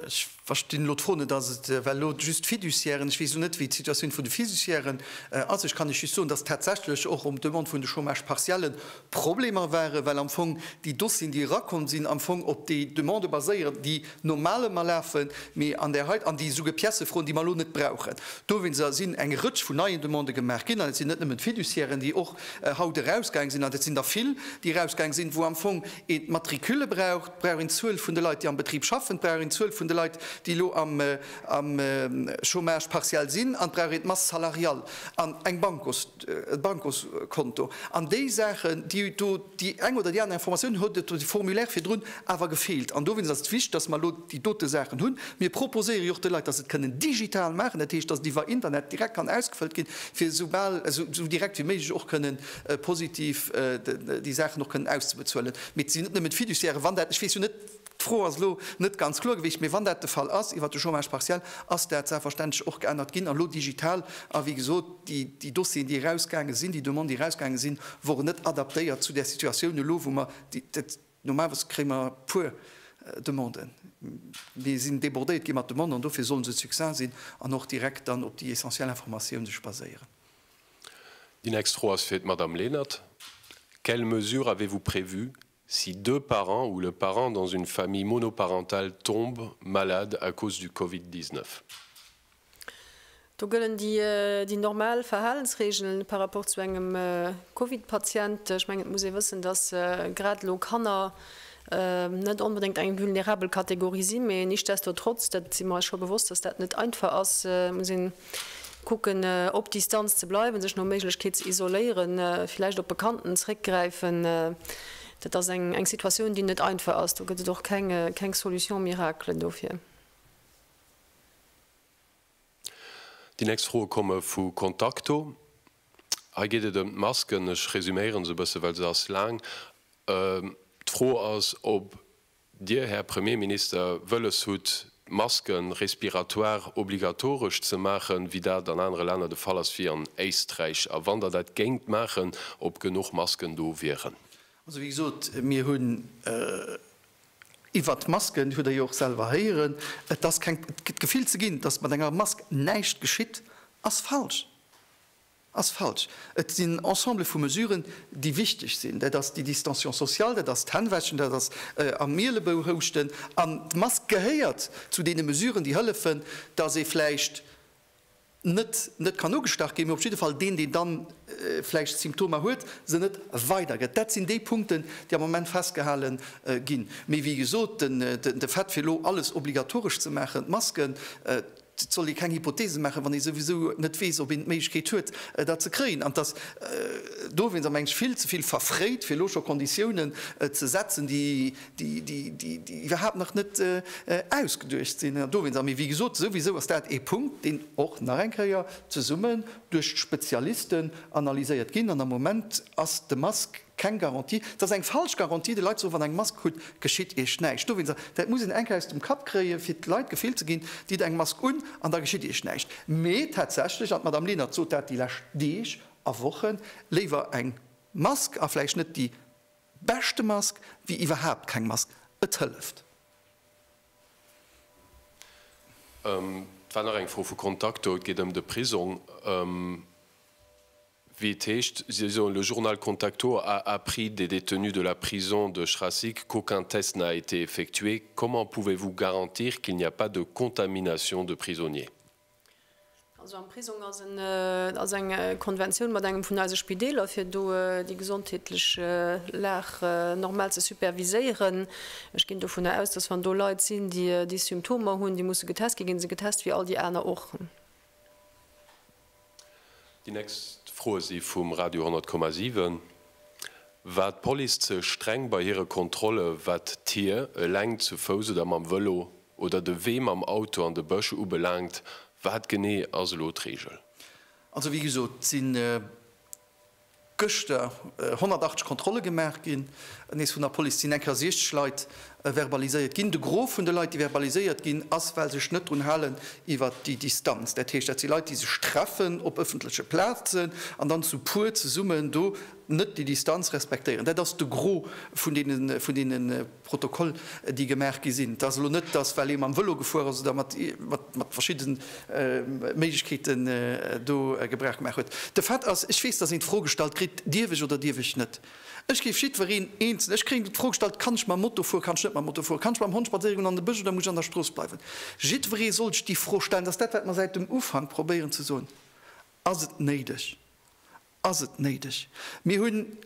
Ech verstinn elo d'Fro net. Ass et well elo just d'Fiduciairen? Ech weess elo net, wéi d'Situatioun vun de Fiduciairen ass. Ech kann lech just soen, dass tatsächlech och um Demande vun de Chômage partielle Problemer waren, well am Fong déi Dossieren, déi erakomm sinn, am Fong op déi Demandë baséieren, déi normalement lafen, mee an där heite an déi souguer Piècë froen, déi mer elo net brauchen. Dowéinster sinn eng Rëtsch vun neien Demandë gemaach ginn. An et sinn net nëmmen d'Fiduciairen, déi och haut erausgaange sinn, an et sinn der vill, déi erausgaange sinn, wou am Fong een d'Matricule braucht, Brauch een d'Zuel vun de Leit, déi am Betrib schaffen? Brauch een d'Zuel vun de Leit, déi elo am Chômage partiel sinn? An brauch een d'Masse salariale an eng Bankos, e Bankoskonto? An déi Saachen, déi do, déi eng oder déi aner Informatioun huet et de Formulaire virdrun awer gefeelt. An dowéinst ass et wichtig, dass mer elo déi dote Saachen hunn. Mir proposéiere jo och de Leit, dass se et kënnen digital maachen, dat heescht, dass et iwwer Internet direkt kann ausgefëllt ginn, fir esou bal, esou direkt wéi méiglech och kënnen positiv déi Saachen och kënnen auszebezuelen. Mee et sinn net nëmmen d'Fiduciairen. Wann dat, ech weess jo net, d'Fro ass elo net ganz kloer gewiescht, mee wann dat de Fall ass iwwert de Chômage partiel, ass dat selbstverständlech och geännert ginn an elo digital. A wéi gesot, déi, déi Dossieren, déi erausgaange sinn, déi Demanden, déi erausgaange sinn, woren net adaptéiert zu där Situatioun elo, wou mer dat, normalerweis kréie mer e puer Demanden, mir sinn débordéiert gi mat Demanden an dofir sollen se succinct sinn an och direkt dann op déi essentiell Informatioun sech baséieren. D'inextro ass fir d'Madame Lenert. Quelles mesures avez-vous prévues si deux parents ou le parent dans une famille monoparentale tombe malade à cause du Covid 19? Do gëllen déi normal Verhalensregeln par rapport zu engem Covid-Patient. Ech mengen, et muss ee wëssen, dass grad elo Kanner net onbedéngt eng vulnerabel Kategorie sinn, mä nichtsdestotrotz, dat si mer eis scho bewosst, dass dat net einfach ass, muss een Kucken op Distanz ze bleiwen, sech no Méiglechkeet ze isoléieren, villäicht op Bekannten zréckgräifen. Dat ass eng eng Situatioun déi net einfach ass, do gëtt et och keng keng Solution miracle dofir. Déi nächst Froe komme vu Contacto. Hei geet et ëm d'Masken. Ech resuméiere se e bësse well se ass laang. D'Fro ass, ob Dir, Här Premierminister, wëlles hutt, d'Masken, respiratoires, obligatoresch ze maachen, wéi dat an anere Länner de Fall ass, wéi an Éisträich, a wann Der dat géingt maachen, ob genuch Masken do wieren? Also, wéi gesot, mir hunn iwwert d'Masken, hutt Der jo och selwer héieren, et ass keng, d'Gefill ze ginn, datt mat enger Mask näischt geschitt, ass falsch. Ass falsch. Et sinn en Ensemble vu Mesuren, déi wichteg sinn. Dat ass déi Distanciation sociale, dat ass d'Hännwäschen, dat ass am Mielebou houschten. An d'Mask gehéiert zu deene Mesuren, déi hëllefen, dass ee vläicht net net kann ugestach ginn, mee op jidde Fall deen, deen da vläicht d'Symptomer huet, se net weidergëtt. Dat sinn déi Punkten, déi am Moment festgehale ginn. Mee wéi gesot, de Fait fir elo alles obligatoresch ze maachen, d'Masken, Et soll ee keng Hypotheesen maachen, wann ee souwisou net weess, ob een d'Méiglechkeet huet, dat ze kréien. An et ass dowéinst a mengen Ech vill ze vill verfréit, fir elo scho Konditiounen ze setzen, déi iwwerhaapt nach net ausgeduecht sinn. An dowéinst, mee wéi gesot, souwisou ass dat ee Punkt, deen och nach eng Kéier zesummen duerch d'Spezialisten analyséiert ginn. An am Moment ass de Masque. Keng Garantie, et ass eng falsch Garantie de Leit ze soen, wann eng Mask krut, geschitt Iech näischt. Do wëllen se, dat muss een enk aus dem Kapp kréien, fir d'Leit d'Gefill ze ginn, ditt eng Mask un an da geschitt Iech näischt. Mee tatsächlech, an d'Madame Lenert sot dat déi lescht Deeg a Wochen, léiwer eng Mask a vläicht net déi beschte Mask, wéi iwwerhaapt keng Mask. Et hëlleft. Et war nach eng Fro vu Contact do. Et geet ëm de Prisong. wéi et heescht, si soen, le journal Contacto a appris des détenus de la prison de Schrassig qu'aucun test n'a été effectué, comment pouvez-vous garantir qu'il n'y a pas de contamination de prisonniers? Also am Prisong ass en, et ass eng Konventioun mat engem vun eise Spideeler, fir do déi gesondheetlech Lag normal ze superviséieren. Ech ginn dovunner aus, dass wann do Leit sinn, déi déi Symptomer hunn, déi musse getest ginn, gi se getest wéi all déi aner och. Déi nächst Froe si vum Radio 100 Komma 7. War d'Police ze streng bei hire Kontrolle wat d'Tier, eleng, zu Fouss oder mam Vëlo, oder de Wee mam Auto an de Bësch ubelaangt? Wat genee ass elo d'Reegel? Also wéi gesot, et sinn Gëschter 180 Kontrolle gemaach ginn. Nees vun der Police sinn eng Kéier 60 Leit verbaliséiert ginn. De Gros vun de Leit, déi verbaliséiert ginn, ass, well sech net drun halen iwwert déi Distanz. Dat heescht, dat si Leit, déi sech treffen op ëffentleche Plazen an dann zu puer zesummen do net déi Distanz respektéieren. Dat ass de Gros vun deene. Protokoll, déi gemaach gi sinn. Et ass elo net, datt, well ee mam Vëlo gefuer ass oder mat verschidde Méiglechkeete do Gebrauch gemaach huet. De Fait ass, ech weess, datt een d'Fro gestallt kritt, Dierf ech oder dierf ech net? Ech géif jiddwereen eenzel, ech kréien d'Fro gestallt, Kann ech mam Moto fueren, kann ech net mam Moto fueren? Kann ech mam Hond spadséiere goen an de Bësch oder muss ech an der Strooss bleiwen? Jiddweree soll sech déi Fro stellen. Dat ass dat, wat mer säit dem Ufank probéieren ze soen. Ass et néideg? Ass et néideg? Mir hunn.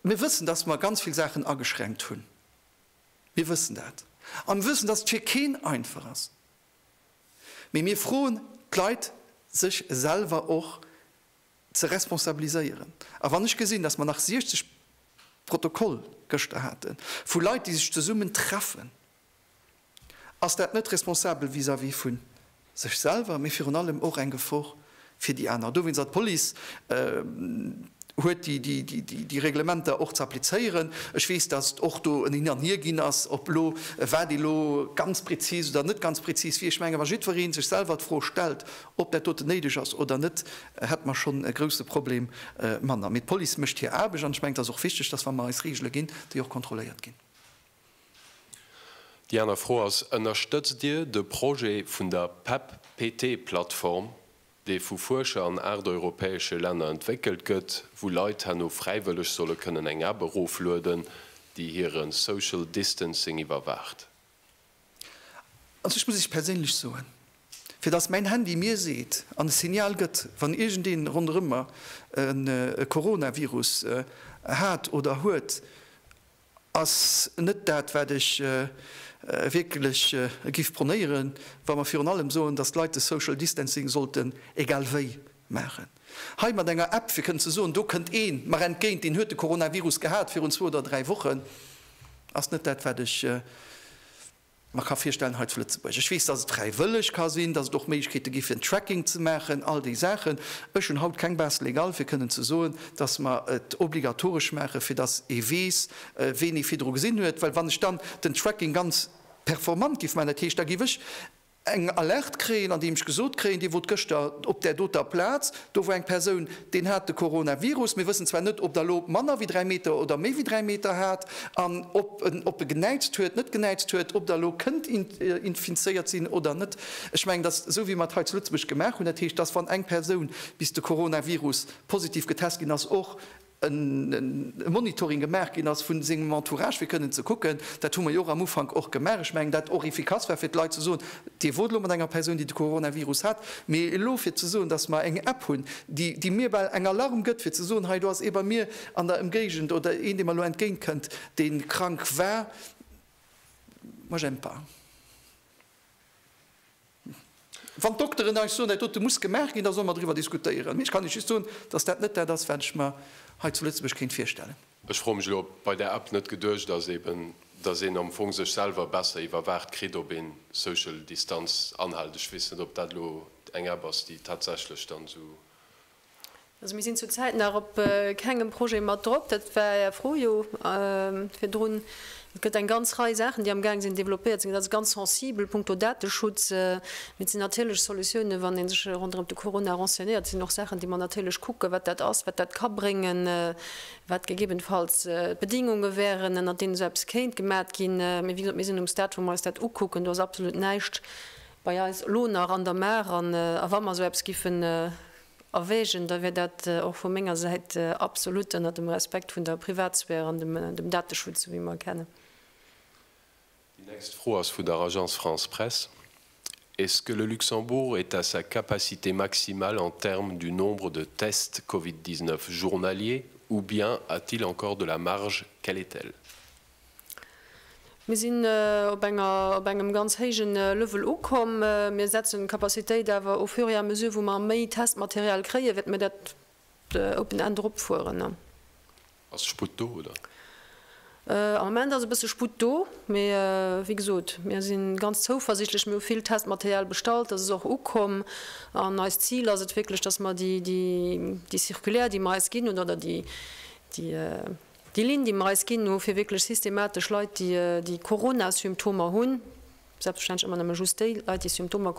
Mir wëssen, dass mer ganz vill Saachen ageschränkt hunn. Mir wëssen dat. A mir wëssen, dass et fir keen einfach ass. Mee mir froen d'Leit, sech selwer och ze responsabiliséieren. A wann ech gesinn, dass mer nach 60 Protokoll gëschter hate vu Leit, déi sech zesummen treffen, Ass dat net responsabel vis-à-vis vu sech selwer, mee virun allem och eng Gefor fir déi aner? Dowéinst ass d'Police huet déi Reglementer och ze applizéieren. Ech weess, datt et och do en Hin an Hier ginn ass, ob elo wat elo ganz prezis oder net ganz prezis wier. Ech menge wa jiddweree sech selwer d'Fro stellt, ob dat doten néideg ass oder net, hätte mer schonn e grouse Problem manner. Mee d'Police mécht hir Aarbecht an ech mengen et ass och wichteg, datt wa mer eis Reegele ginn, déi och kontrolléiert ginn. Déi aner Fro ass, Ënnerstëtzt Dir de Projet vun der PEP-PT-Plattform, dee vu Fuerscher an aacht europäesche Länner entwéckelt gëtt, wou Leit herno fräiwëlleg solle kënnen eng App eroflueden, déi hire Social Distancing iwwerwaacht? Also ech muss Iech perséinlech soen, fir datt mäin Handy mir seet an e Signal gëtt, wann iergendee ronderëm mer e Coronavirus hat oder huet, ass net dat, wat ech wierklech giff pronéieren, wa mer virun allem soen, dass d'Leit de Social Distancing sollten egal wéi maachen. Hei mat enger App, fir kënnen ze soen, do kënnt ee mer entgéint, deen huet de Coronavirus gehat virun zwou oder dräi Wochen, ass net dat, wat ech mer ka virstellen hei zu Lëtzebuerg. Ech weess, dass et fräiwëlleg ka sinn, dass et och Méiglechkeete gi fir en Tracking ze maachen, all déi Saachen. Ech hunn haut keng Base légale fir kënnen ze soen, dass mer et obligatoresch maache fir dass ee weess, ween ee virdru gesinn huet, well wann ech dann den Tracking ganz performant géif maachen, dat heescht da géif ech, eng Alerte kréien, an deem ech gesot kréien, Dir wot gëschter op där doter Plaz, do wor eng Persoun, deen hat de Coronavirus, mir wëssen zwar net, ob der elo manner wéi 3 Meter oder méi wéi 3 Meter hat an ob en ob e genäitzt huet, net genäitzt huet, ob der elo kënnt infizéiert sinn oder net. Ech mengen, dass esou wéi mer et hei zu Lëtzebuerg gemaach hunn, dat heescht, dass wann eng Persoun bis de Coronavirus positiv getest ginn ass, och e Monitoring gemaach ginn ass vun sengem Entourage fir kënnen ze kucken, dat hu mer jo och am Ufank och gemaach, ech mengen dat och efficace war fir d'Leit ze soen, Dir wot elo mat enger Persoun déi de Coronavirus hat, mee elo fir ze soen, datt mer eng App hunn déi déi mir bal eng Alarm gëtt fir ze soen, hei do ass ee bei mir an der Emgéigend oder een dee mer elo entgéint kënnt dee krank war. Moi j'aime pas. Wann d'Dokteren eis soen, dat dote muss gemaach ginn, da solle mer driwwer diskutéieren. Mee ech kann Iech just soen, dass dat net dat ass, wat ech mer hei zu Lëtzebuerg kéint virstellen. Ech froe mech elo, ob bei där App net geduecht ass, eben, dass een am Fong sech selwer besser iwwerwaacht kritt, ob een d'Social Distanz anhält. Ech weess net, ob dat elo eng App ass, déi tatsächlech dann esou. Also mir sinn zur Zäit nach op kengem Projet mat drop, dat war Är Fro jo virdrun. Et gëtt eng ganz Rei Saachen, déi amgaang sinn développéiert ze ginn. Dat ass ganz sensibel punkto Dateschutz. Mee et sinn natierlech Solutiounen, wann ee sech ronderëm de Corona renseignéiert, sinn och Saachen, déi mer natierlech kucken, wat dat ass, wat dat ka bréngen, wat gegebenfalls d'Bedingunge wären, ënner deenen esou eppes kéint gemat ginn. Mee wéi gesot, mir sinn um Stade, wou mer eis dat ukucken. Do ass absolut näischt bei eis elo nach an der Maach an a wa mer esou eppes giffen erwägen, da wier dat och vu menger Säit absolut ënnert dem Respekt vun der Privatsphär an dem Dateschutz, esou wéi mer e kennen. Déi nächst Fro ass vun der Agence France-Presse, Est-ce que le Luxembourg est à sa capacité maximale en termes du nombre de tests Covid 19 journaliers ou bien a-t-il encore de la marge? Quelle est-elle? Mir sinn op enger, op engem ganz héijen Level ukomm. Mir setzen d'Capacitéit awer au fur et à mesure wou mer méi Testmaterial kréien, wäerte mir dat open end eropfueren. Ass Sputt do, oder? Am Moment ass e bësse Sputt do, mee wéi gesot, mir si ganz zouversichtlech. Mir hu vill Testmaterial bestallt, dat ass och ukomm. An eist Zil ass et wierklech, dass mer déi Circulaire, déi mer eis ginn hunn, oder déi. Déi Linn, déi mer eis ginn hu fir wierklech systematesch Leit, déi Corona-Symptomer hunn, selbstverständlech ëmmer nëmme just déi Leit, déi Symptomer,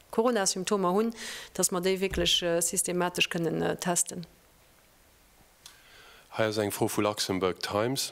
Corona-Symptomer hunn, dass mer déi wierklech systematesch kënnen testen. Hei ass eng Fro vu Luxembourg Times.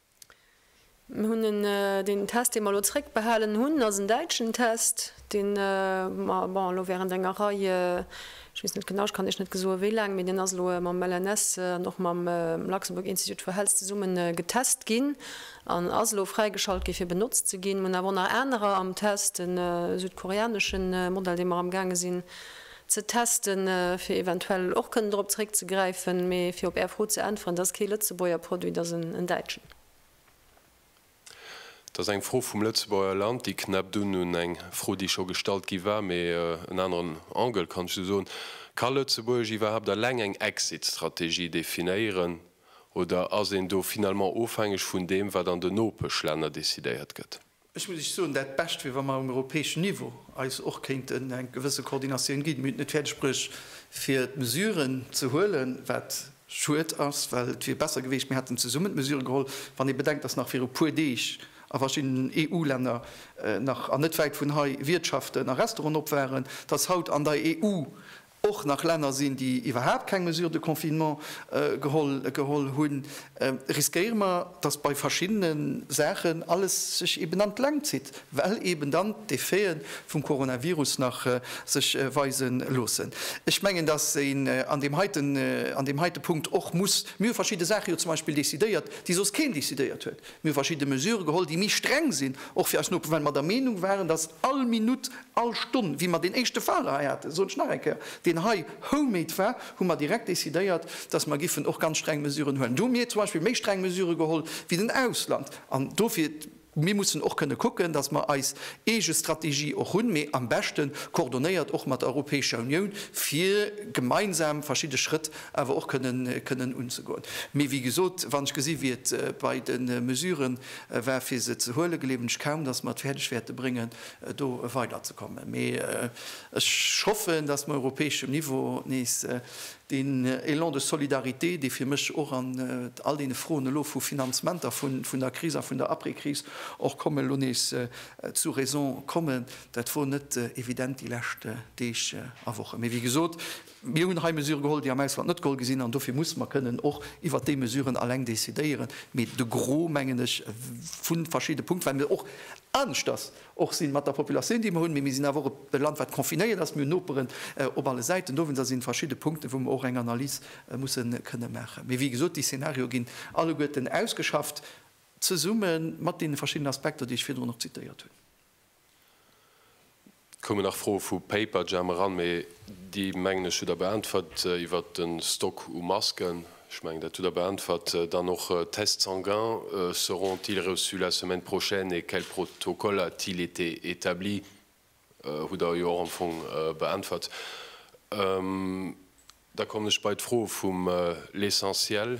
Mir hunn en, deen Test, dee mer elo zréckbehalen hunn, ass en däitschen Test, dee mer, bon, elo während enger Rei, ech weess net genau, ech kann Iech net gesoe wéi laang, mee deen ass elo mam LNS an och mam Luxembourg Institute for Health zesumme getest ginn an ass elo fräigeschalt gi fir benotzt ze ginn. Mir hunn awer och nach anerer am Test, e südkoreanesche Modell, dee mer amgaange sinn ze testen, fir eventuell och kënnen drop zeréckzegräifen. Mee fir op Är Fro ze äntweren, Et ass kee Lëtzebuerger Produit, et ass en däitschen. Et ass eng Fro vum Lëtzebuerger Land, déi knäppt un un eng Fro, déi scho gestallt gi war, mee en aneren Angle, kann ech esou soen. Ka Lëtzebuerg iwwerhaapt eleng eng Exit-Strategie definéieren oder ass een do finalement ofhängeg vun deem, wat an den Nopeschlänner decidéiert gëtt? Ech muss Iech soen, dat Bescht wier, wa mer um europäeschen Niveau eis och kéinten eng gewësse Koordinatioun ginn. Mir hunn et net fäerdeg bruecht, fir d'Mesuren ze huelen, wat schued ass, well et wier besser geweecht, mir hätten zesummen d'Mesurë geholl, wann ee bedenkt, datt nach viru e puer Deeg a verschiddenen EU-Länner nach, an net wäit vun hei, Wiertschaften a Restauranten op waren, datt haut an der EU och nach Länner sinn, déi iwwerhaapt keng Mesures de confinement geholl hunn, riskéiere mer, dass bei verschiddene Saachen alles sech eben an d'Längt zitt, well eben dann d'Effete vum Coronavirus nach sech weise loossen. Ech mengen, dass een an deem heite Punkt och muss, mir hu verschidde Saache jo zum Beispill decidéiert, déi soss keen decidéiert huet. Mir hu verschidde Mesure geholl, déi méi streng sinn, och fir eis Noperen, well mer der Meenung waren, dass all Minutt, all Stonn, wéi mer deen éischte Fall hei haten, dat soen ech nach eng Kéier, deen hei home-made war, hu mer direkt décidéiert, dass mer giffen och ganz streng Mesuren huelen. Do hu mir zum Beispill méi streng Mesure geholl wéi den Ausland. An dofir, mir mussen och kënne kucken, dass mer eis eege Strategie och hunn, mee am beschte coordonéiert och mat der Europäescher Unioun, fir gemeinsam verschidde Schrëtt awer och kënnen unzegoen. Mee wéi gesot, wann ech gesi wéi et bei de Mesurë war fir se ze huelen, gleewen ech kaum, datt mer et fäerdeg wäerte bréngen do weiderzekommen. Mee ech hoffen, datt mer europäeschem Niveau nees deen Élan de solidarité, dee fir mech och an all deene Froen elo vu Finanzementer vun der Kris a vun der Après-Kris och komme, elo nees zu Raison kommen. Dat wor net evident déi lescht Deeg a Wochen. Mee wéi gesot, Mir hunn hei Mesurë geholl, déi am Ausland net geholl gi sinn, an dofir muss mer kënnen och iwwert déi Mesuren alleng decidéieren. Mee de Gros, mengen ech, vu verschidde Punkten, well mir och aneschters och si mat der Populatioun, déi mer hunn, mee mir sinn awer och e Land, wat confinéiert ass, mir hunn Noperen op alle Säiten, dowéinst ass et verschidde Punkten, wou mer och eng Analys musse kënne maachen. Mee wéi gesot, déi Szenarioe ginn alleguerten ausgeschafft, zesumme mat deene verschiddenen Aspekter, déi ech virdrun och zitéiert hunn. Et koumen nach Froe vu Paperjam eran, mee déi, mengen ech, hutt Der beäntwert. Iwwert de Stock u Masken, ech mengen, dat hutt Der beäntwert. Dann och Tests sanguins, seront-ils reçus la semaine prochaine et quel protocole a-t-il été établi? hutt Der jo och am Fong beäntwert. Da kommen ech bei d'Fro vum L'essentiel.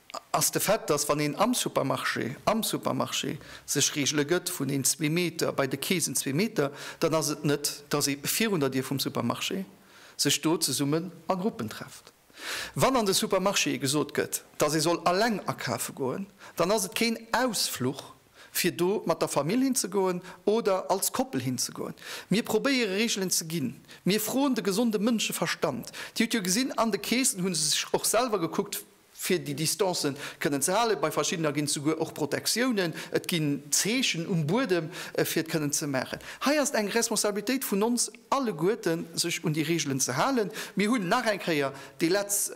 ass de Fait, dass wann een am Supermarché, am Supermarché! sech Reegele gëtt vun een zwee Meter, bei de Keesen zwee Meter, dann ass et net, dass ee virun der Dier vum Supermarché sech do zesummen a Gruppen trefft. Wann an de Supermarchéë gesot gëtt, dass ee soll alleng akafe goen, dann ass et keen Ausfluch, fir do mat der Famill hinzegoen oder als Koppel hinzegoen. Mir probéiere Reegelen ze ginn. Mir froen de gesonde Mënscheverstand. Dir hutt jo gesinn, an de Keesen hu se sech och selwer gekuckt, fir déi Distancen kënnen ze halen. Bei verschiddener ginn et souguer och Protectiounen, et ginn Zeechen um Buedem, fir et kënnen ze maachen. Hei ass et eng Responsabilitéit vun ons alleguerten, sech un déi Reegelen ze halen. Mir hunn nach eng Kéier dee Letz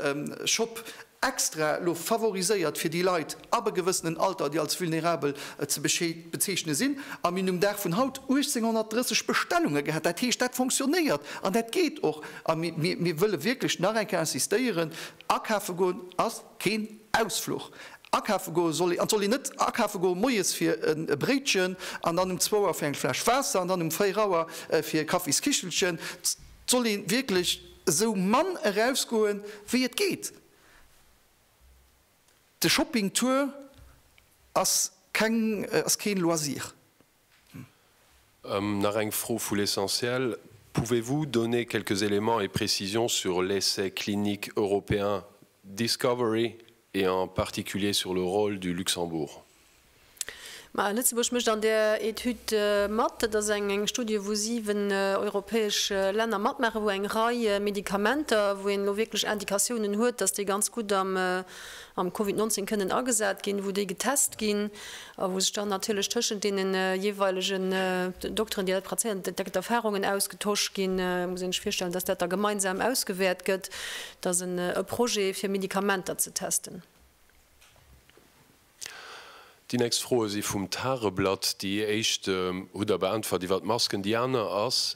Shop extra elo favoriséiert fir déi Leit ab e gewëssenen Alter, déi als vulnerabel ze bezeechne sinn. A mir hunn um Dag vun haut 1830 Bestellunge gehat. Dat heescht, dat fonctionnéiert an dat geet och. A mir wëlle wierklech nach eng Kéier insistéieren, Akafe goen ass keen Ausfluch. Akafe goe soll ee, an et soll een net akafe goe moies fir e Bréitchen an dann um zwou Auer fir eng Fläsch Waasser an dann um véier Auer fir e Kaffiskichelchen. Et soll ee wierklech esou mann erausgoe wéi et geet. De Shopping Tour ass keng, ass kee Loisir. Nach eng Fro vu L'Essentiel, Pouvez-vous donner quelques éléments et précisions sur l'essai clinique européen Discovery et en particulier sur le rôle du Luxembourg? Ma Lëtzebuerg mécht an där Etüd mat. Dat ass eng Studie, wou siwen europäesch Länner matmaachen, wou eng Rei Medikamenter, wou een elo wierklech Indikatiounen huet, datt déi ganz gutt am Covid 19 kënnen agesat ginn, wou déi getest ginn. a wou sech dann natierlech tëschent deene jeeweilegen Dokteren, déi dat prazéieren, direkt Erfarungen ausgetosch ginn, muss ee sech virstellen, dass dat da gemeinsam ausgewäert gëtt, dass en e Projet fir Medikamenter ze testen. Déi nächst Froe si vum Tageblatt. Déi éischt hutt Der beäntwert iwwert d'Masken. Déi aner ass,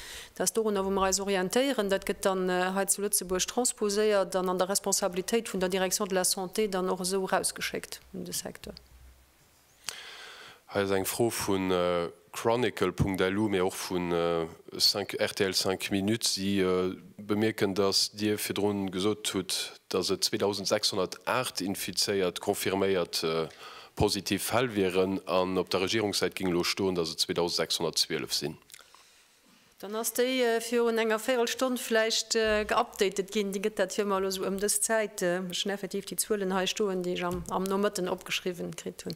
Dat ass dorunner, wou mer eis orientéieren. Dat gëtt dann hei zu Lëtzebuerg transposéiert an an der Responsabilitéit vun der Direction de la santé dann och esou erausgeschéckt un de Secteur. Hei ass eng Fro vu chronicle.lu, mee och vu rtl 5 minutes. Si bemierken, datt Dir virdru gesot hutt, datt et 2.608 infizéiert, confirméiert, positiv Fäll wieren an op der Regierungssäit géing elo stoen, datt et 2.612 sinn. Dann ass déi virun enger Véirelstonn vläicht geupdatet ginn. Dir gëtt dat jo ëmmer elo esou ëm dës Zäit. Ech hunn effektiv déi Zuelen hei stoen, déi ech am Nomëtten opgeschriwwen kritt hunn.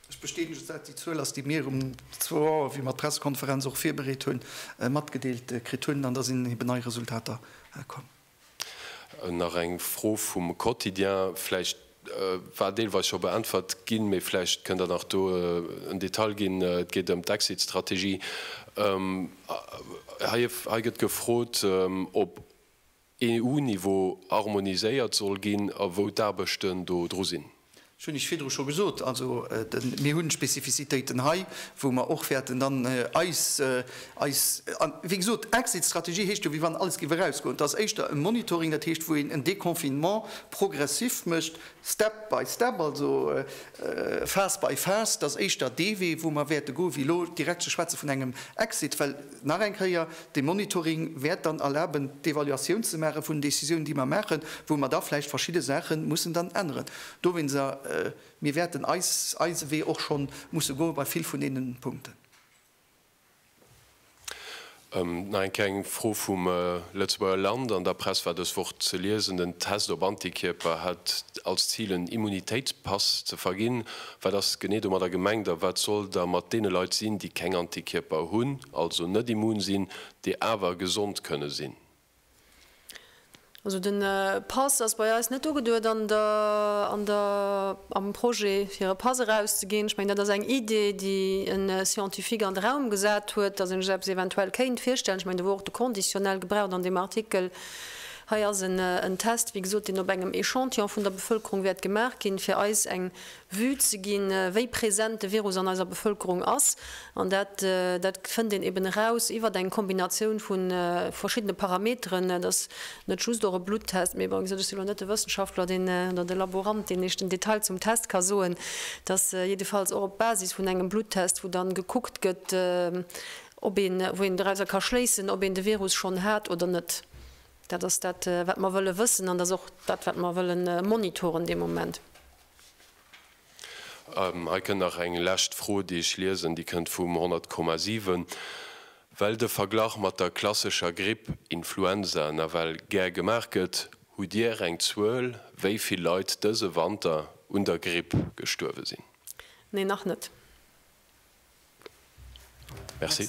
Ech bestätegen, dass dat déi Zuel ass, déi mir um zwou Auer, wéi mer d'Pressekonferenz och virbereet hunn, matgedeelt kritt hunn. An da sinn eben nei Resultater komm. Nach eng Fro vum Quotidien, vläicht war deelweis scho beäntwert ginn, mee vläicht kënnt Der nach do en Detail ginn. Et geet ëm d'Exit-Strategie. Hei gëtt gefrot, ob EU-Niveau harmoniséiert soll ginn a wou d'Aarbechten do dru sinn. Ech hunn lech virdru scho gesot, also mir hu Spezifizitéiten hei, wou mer och wäerten dann eis, eis, a wéi gesot, Exit-Strategie heescht jo, wéi wann alles géif erausgoen. Et ass éischter e Monitoring, dat heescht, wou een en Déconfinement progressif mécht, step by step, also phase by phase. Et ass éischter dee Wee, wou mer wäerte goen, wéi elo direkt ze schwätze vun engem Exit, well, Nach eng Kéier, dee Monitoring wäert dann erlaben, d'Evaluatioun ze maache vun den Décisiounen, déi mer maachen, wou mer da vläicht verschidde Saache mussen dann änneren. Dowéinst, mir wäerten eis, eise Wee och scho musse goe bei vill vun deene Punkten. Nach eng Kéier eng Fro vum Lëtzebuerger Land. An der Press war dës Woch ze liesen, den Test op Antikierper hätt als Zil, en Immunitéitspass ze verginn. Wat ass genee domadder gemengt a wat soll da mat deene Leit sinn, déi keng Antikierper hunn, also net immun sinn, déi awer gesond kënne sinn? Also de Pass ass bei eis net ugeduet an der, an der, am Projet, fir e Pass erauszeginn. Ech mengen, dat ass eng Idee, déi e Scientifique an de Raum gesat huet, datt een sech eppes eventuell kéint virstellen. Ech mengen, do wor och de Conditionnel gebraucht an deem Artikel. Hei ass en Test, wéi gesot, deen op engem Echantillon vun der Bevëlkerung wäert gemaach ginn, fir eis eng Vue ze ginn, wéi present de Virus an eiser Bevëlkerung ass. An dat dat fënnt een eben eraus iwwert eng Kombinatioun vu verschiddene Parameteren. Et ass net just och e Bluttest, mee bon, ech si elo net de Wëssenschaftler, deen, oder de Laborant, deen Iech den Detail zum Test ka soen. Et ass jiddefalls och op Basis vun engem Bluttest, wou dann gekuckt gëtt, ob een, wou een dorauser ka schléissen, ob een de Virus schonn hat oder net. Dat ass dat, wat mer wëlle wëssen, an dat ass och dat, wat mer wëlle monitoren de Moment. Hei kënnt nach eng lescht Fro, déi ech liesen. Déi kënnt vum 100,7, Well de Verglach mat der klassescher Gripp, Influenza, nawell gär gemaach gëtt, hutt Dir eng Zuel, wéi vill Leit dëse Wanter un der Gripp gestuerwe sinn? Nee, nach net. Merci.